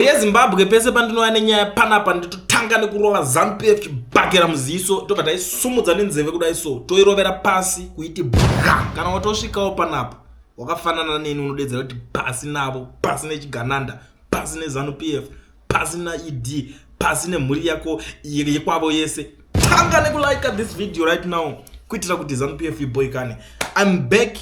yezimbabwe pese pandinova nenyaya panapa nditotanga nekurova zanupf chibhakera muziso tobva taisumudza nenzeve kudai so toirovera pasi kuiti bwa kana watosvikawo panapa wakafanana neni unodedzera kuti pasi navo pasi nechigananda pasi nezanupf pasi naed pasi nemhuri yako yekwavo yese tanga nekulike this video right now kuitira kuti zanupf iboikane im back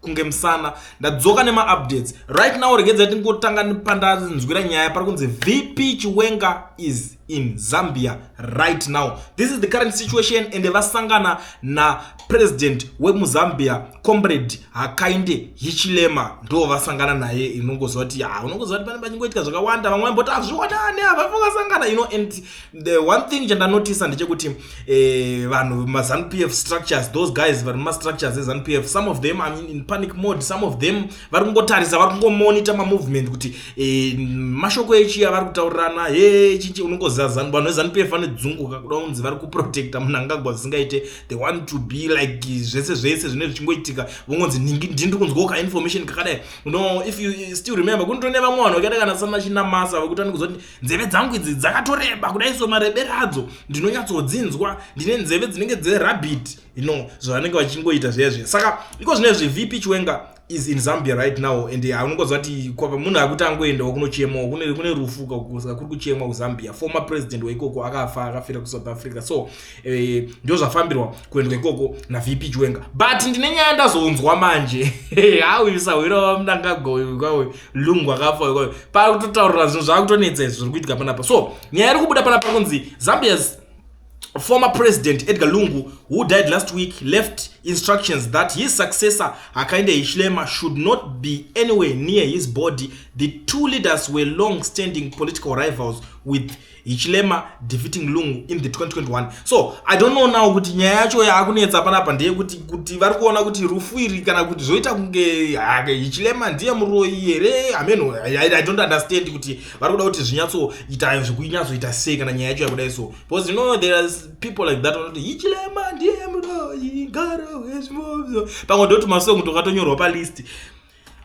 kunge musana ndadzoka nemaupdates right now regedza tingotanga pandanzwira nyaya pari kunzi vp chiwenga is in zambia right now this is the current situation and vasangana napresident wemuzambia comrade hakainde hichilema ndo vasangana naye inongoziva kuti ha unongoziva kuti pane pachingoitika zvakawanda vamwe vamboti hazvionane havafangasangana ino and the one thing chandanotisa ndechekuti eh, vanhu eh, mazanu pf structures those guys vari mumastructures ezanu pf some of them I'm in panic mode some of them vari kungotarisa vari kungomonita mamovement kuti eh, mashoko echiya vari kutaurirana he chichi unongoziva zanu vanhu vezanu pf vanodzunguka kuda kunzi vari kuprotecta munangagwa zvisingaite they want to be like zvese zvese zvine zvichingoitika vongonzi ndiri kunzwawo kainformation kakadai no if you still remember kunotone vamwe vanhu vakaita kana sanachinamasa vekuti vani kuzoti nzeve dzangu idzi dzakatoreba kudai so marebere adzo ndinonyatsodzinzwa ndine nzeve dzinenge dzerabit you know zvavanenge vachingoita zviya zviya saka iko zvine zve vp chiwenga is in zambia right now and anongoziva kuti kwava munhu akuti angoendawo kunochemawo kune rufuka saka kuri kuchemwa kuzambia former president weikoko akafa akafira kusouth africa so Eh, ndozvafambirwa kuendwa ikoko navp chiwenga but ndine nyaya ndazonzwa manje awisahwira wamnangagoyo kwawe lungu akafa kwawe pari kutotaurira zvinhu zvaakutonetsa izvi zviri kuitika panapa so nyaya iri kubuda panapa kunzi zambia's former president edgar lungu who died last week left instructions that his successor akainde hishlema should not be anywhere near his body the two leaders were long standing political rivals with Hichilema defeating Lungu in the 2021. So, I don't know now kuti nyaya yacho yakunetsa panapa ndeye kuti kuti vari kuona kuti rufu iri kana kuti zvoita kunge hake Hichilema ndiye muroyi here? I mean, I, I don't understand kuti vari kuda kuti zvinyatso ita zvikunyatso ita sei kana nyaya yacho yakudai so. Because you know there are people like that vanoti Hichilema ndiye muroyi, garo hezvimobzo. Pamwe ndoti masong tokatonyorwa pa list.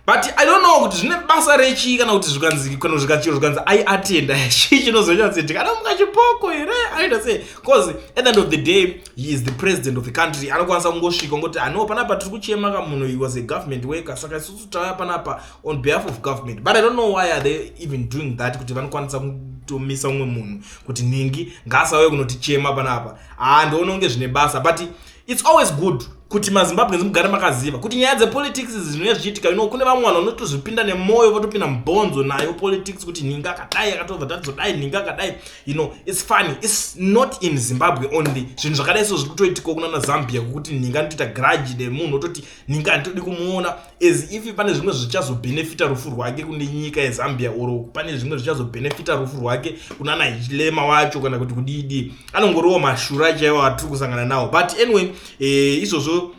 but i don't know kuti zvine basa rechii kana kuti zvikanzi kana zvikachiro zvikanzi i attend chii chinozoita kuti ndikana mukachipoko here anoita sei bcause at the end of the day he is the president of the country anokwanisa kungosvika ngoti ano panapa tiri kuchema ka munhu he was a government worker saka isusu tauya panapa on behalf of government but i don't know why are they even doing that kuti vanokwanisa kutomisa umwe munhu kuti nhingi ngaasauye kunotichema panapa haa ah, ndioona kunge zvine basa but It's always good kuti mazimbabweans mugare makaziva kuti nyaya dzepolitics zvinouya zvichiitika ino kune vamwe vanhu vanotozvipinda nemwoyo votopinda mubhonzo nayo politics kuti nhinga akadai akatobva tadzodai nhinga akadai you know its funny its not in zimbabwe only zvinhu zvakadai so zviri kutoitikawo kunana zambia kwokuti nhinga anotoita grudge nemunhu ototi nhinga handitodi kumuona as if pane zvimwe zvichazobhenefita rufu rwake kune nyika yezambia or pane zvimwe zvichazobhenefita rufu rwake kunana hilema wacho kana kuti kudidi anongoriwo mashura chaiwo atiri kusangana nawo but anyway eh, izvozvo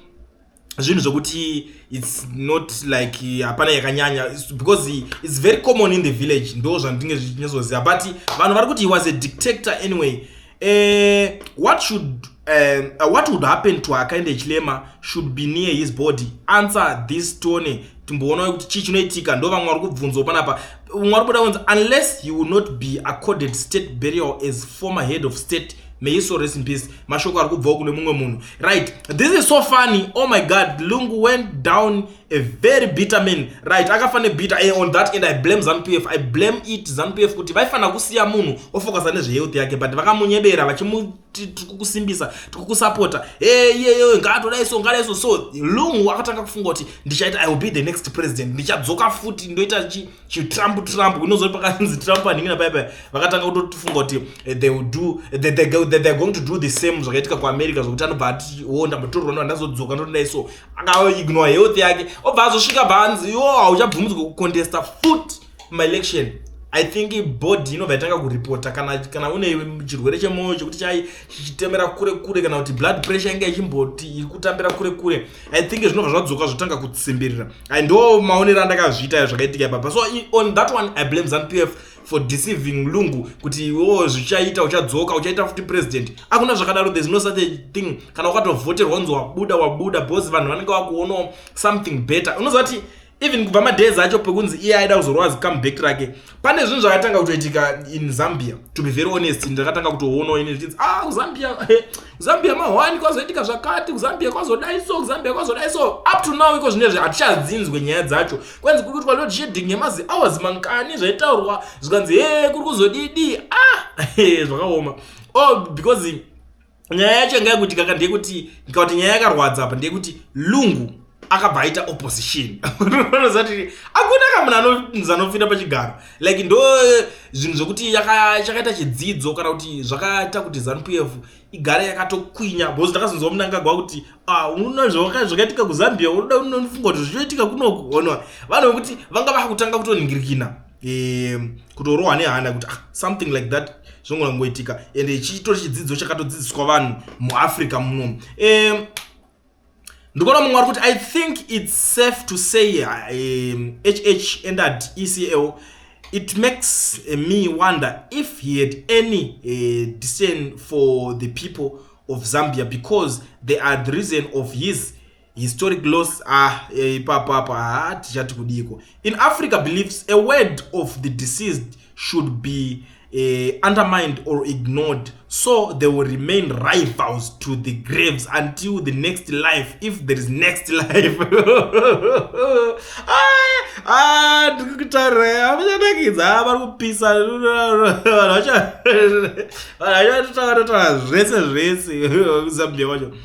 zvinhu zvokuti its not like hapana yakanyanya because its very common in the village ndo zvandinge zvichinyatsoziva but vanhu vari kuti he was a dictator anyway Eh, what should um, uh, what would happen to akaende chilema should be near his body answer this tone timboona kuti chii chinoitika ndo vamwe vari kubvunzwa panapa umwe ari kuda kunzi unless he will not be accorded state burial as former head of state may he so rest in peace mashoko ari kubvawo kune mumwe munhu right this is so funny oh my god lungu went down uh, a very bitter man right akafa nebitter and eh, on that end i blame zanu pf i blame it zanu pf kuti vaifanira kusiya munhu ofocusa nezvehealth yake but vakamunyebera vachimuti tikukusimbisa tikukusapota eyeyeye eh, ngaatodai so ngadai so so lungu akatanga kufunga kuti ndichaita i will be the next president ndichadzoka futi ndoita chi chitrump trump unozo pakanzi trump aningina paya paya vakatanga kutotifunga kuti eh, they will do eh, they, they, they, they're going to do the same zvakaitika kuamerica zvokuti anobva ati wo oh, ndambotorwa no ndazodzoka ndotodai so akaignore health yake obva azosvika bva anzi yo hauchabvumidzwa kucontesta foot maelection i think body inobva yatanga kuripota kana kana une chirwere chemwoyo chekuti chai chichitemera kure kure kana kuti blood pressure inge ichimboti iri kutambira kure kure i think zvinobva zvadzoka zvotanga kutsimbirira and ndo maonero andakazviita yo zvakaitika ipapa so on that one i blame zanu p f for deceiving lungu kuti iwo zvichaita uchadzoka uchaita futi president akuna zvakadaro there's no such a thing kana ukatovhoterwa unzi wabuda wabuda because vanhu vanenge vakuonawo something better unoziva kuti even kubva madays acho pekunzi iye aida kuzorova zicomeback rake pane zvinhu zvakatanga kutoitika in zambia to be very honest ndakatanga kutoonawo ini zvichinzi ah kuzambia kuzambia mahwani kwazoitika zvakati kuzambia kwazodai so kuzambia kwazodai so up to now iko zvine zve hatichadzinzwe nyaya dzacho kwanzi kuri kuitwa load shedding yemazi hours mankani zvaitaurwa zvikanzi he kuri kuzodidi ah zvakaoma oh because nyaya yacho yanga yakuti kaka ndeyekuti ndikauti nyaya yakarwadza apa ndeyekuti lungu akabva aita opposition anozati akuna kamuna anonzi anopfira pachigaro like ndo eh, zvinhu zvokuti chakaita chidzidzo kana kuti zvakaita kuti zanup f igare yakatokwinya bcause ndakazonzwa munangagwa kuti ah, unoona zvakaitika kuzambia unoda unofunga kuti zvichaitika kunoku onwa vanhu vekuti vanga vakutanga kutoningirikina e, kutorohwa nehana kuti ah, something like that zvongongoitika and chitori chidzidzo chakatodzidziswa vanhu muafrica muno e, ndikuona mumwe ari kuti i think its safe to say um, hh and at ecl it makes uh, me wonder if he had any uh, discern for the people of zambia because they are the reason of his Historic loss ah eh, ipapo apo haa tichati kudiiko in Africa beliefs a word of the deceased should be uh, undermined or ignored so they will remain rivals to the graves until the next life if there is next life ndikutaura vachanakidza vari kupisa vachatotaura zvese zvese zambia wacho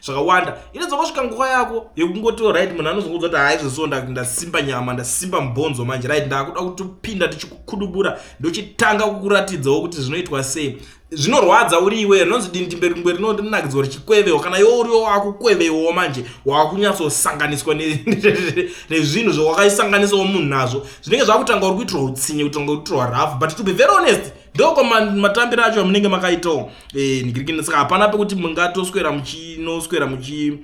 zvakawanda inozongosvika nguva yako yekungotiwo right munhu anozongoudza kuti haa izvozvo ndasimba nyama ndasimba mubhonzo manje right ndakuda kutopinda tichikukudubura ndochitanga kukuratidzawo kuti zvinoitwa sei zvinorwadza uri iwe rinonzi dindimberi mberi rinonakidza uri chikwevewo kana iwo uriwo wakukwevewo manje wakunyatsosanganiswa nezvinhu zvawakaisanganisawo munhu nazvo zvinenge zvakutanga uri kuitirwa utsinye kutanga kuitirwa rafu but to be very honest ndoko matambiro acho amunenge makaitawo eh, nigirikini saka hapana pekuti mungatoswera muchinoswera muchi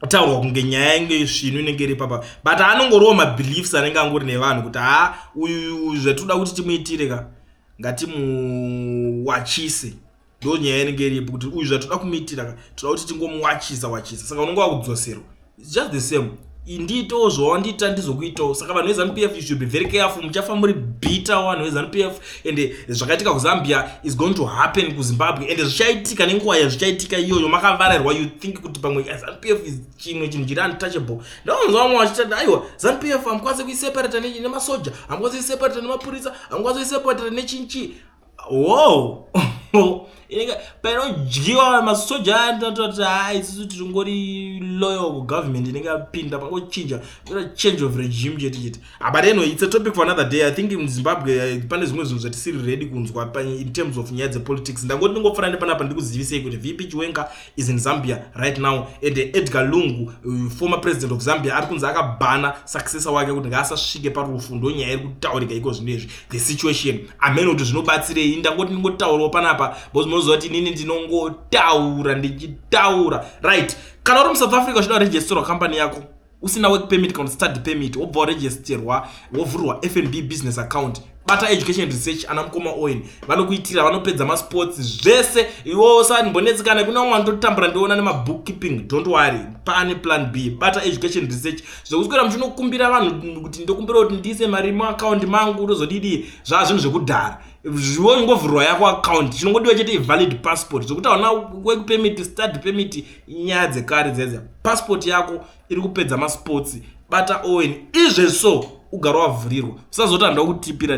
taurwa kunge nyaya inge svinu inenge iri papa but anongoriwo mabeliefs anenge angori nevanhu kuti ha uyu zvatoda kuti timuitire ka ngatimuwachise ndo nyaya inenge iripo kuti uyu zvatoda kumuitira ka toda kuti tingomuwachisa wachisa saka unenge wakudzoserwa its just the same ndiitewo zvawandiita ndizokuitawo saka vanhu vezanup f you should be very careful muchafa muri bitter vanhu vezanup f ende zvakaitika kuzambia is going to happen kuzimbabwe ende zvichaitika nenguva yazvichaitika iyoyo makavarairwa you think kuti pamwe zanup f is chimwe chinhu chiri untouchable ndaonzwa vamwe vachitati aiwa zanup f hamukwanise kuiseparata nemasoja hamukwanise kuiseparata nemapurisa hamukwanise kuiseparata nechinchi wow painodyiwa masoja aya ndinototi haa isusu tiringori loyal kugovernment inenge yapinda pangochinja kuita change of regime chete chete ah, but anyway it's a topic for another day i think muzimbabwe eh, pane zvimwe zvinhu zvatisiri ready kunzwa in terms of nyaya dzepolitics ndangoti ndingofanira nepanapa ndikuzivisei kuti vp chiwenga is in Zambia right now and Edgar Lungu uh, former president of Zambia ari kunzi akabhana successor wake kuti ngaasasvike parufu ndonyaya iri kutaurika iko zvinhu izvi the situation amene kuti zvinobatsirei ndangoti ndingotaurawo panapa because munoziva kuti inini ndinongotaura ndichitaura right kana uri musouth africa uchida kuregisterwa company yako usina work permit kana study permit wobva waregisterwa wovhurwa fnb business account bata education research ana mukoma oil vanokuitira vanopedza masports zvese iwo usanimbonetsi kana kuna umwe anototambura ndiona nemabook keeping don't worry pane plan b bata education research zvekuswera muchinokumbira vanhu kuti ndokumbira kuti ndiise mari muaccount mangu ndozodidii zvaa zvinhu zvekudhara zviwo ingovhurwa yako account chinongodiwa chete ivalid passport zvekuti hauna work permit study permit Inyaya dzekare dziya dziya. Passport yako iri kupedza masports bata Owen izve so ugare wavhurirwa usazoti handina kutipira.